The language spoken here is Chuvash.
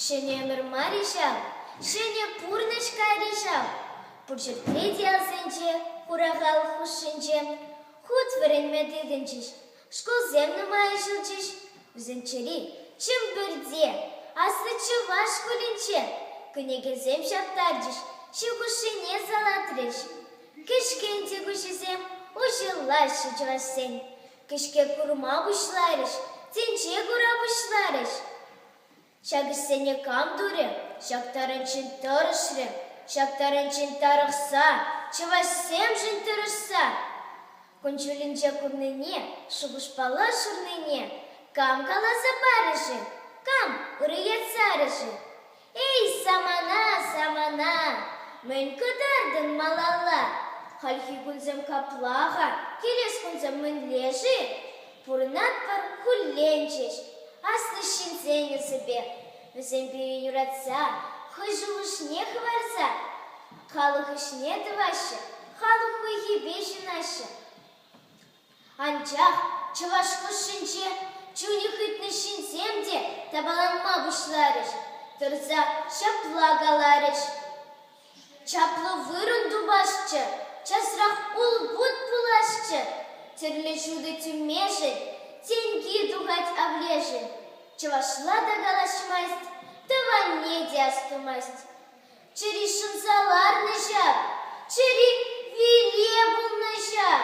Ҫӗнӗ ӗмӗр мар-и ҫав? Ҫӗнӗ пурнӑҫ кайрӗ ҫав. Пурҫӗрпе те асенче, хурахал хушшинче хут вӗренме тытӑнчӗҫ. Шкулсем нумайӑшӗлчӗҫ. Вӗсенчери Чӗмпӗрте, аслӑ чӑваш шкулӗнче кӗнекесем ҫаптарчӗҫ, ҫу хушшине салатрӗҫ. Кӗҫкен те куҫӗсем уҫӑллаҫҫӗ чӑвашсен. Кӗҫке курма пуҫларӗҫ, тӗнче кура пуҫларӗҫ. Ҫак ӗҫсене кам турӗ? Ҫак тарӑнччен тӑрӑшрӗ, ҫак тарӑнччен тарӑхса, чӑвашсемшӗн тӑрӑшса. Кун-ҫулӗнче курнине, шухӑшпала шырнине кам каласа парӗ-ши? Кам ырӑ ят сарӗ-ши? Эй, самана, самана, мӗн кӑтартӑн малалла? Хальхи кунсем капла-ха, килес кунсем мӗнле-ши? Пурӑнатпӑр кулленчӗҫ аслӑ ҫынсен эсӗпе. Вӗсем пире юратса, хӑй шухӑшне хӑварса, халӑх ӗҫне тӑваҫҫӗ, халӑх хуйхипе ҫынаҫҫӗ. Анчах чӑваш хушшинче чунӗ хытнӑ ҫынсем те тапаланма пуҫларӗҫ, тӑрса ҫапла каларӗҫ: Чаплӑ вырӑн тупасчӗ, часрах улпут пуласчӗ, тӗрлӗ ҫутӑ тӳмешӗн тенки тухать авлешӗн. Чӑвашла та калаҫмасть, тӑванне те астумасть. Чӗри шӑнса ларнӑ ҫав, чӗри виле пулнӑ ҫав.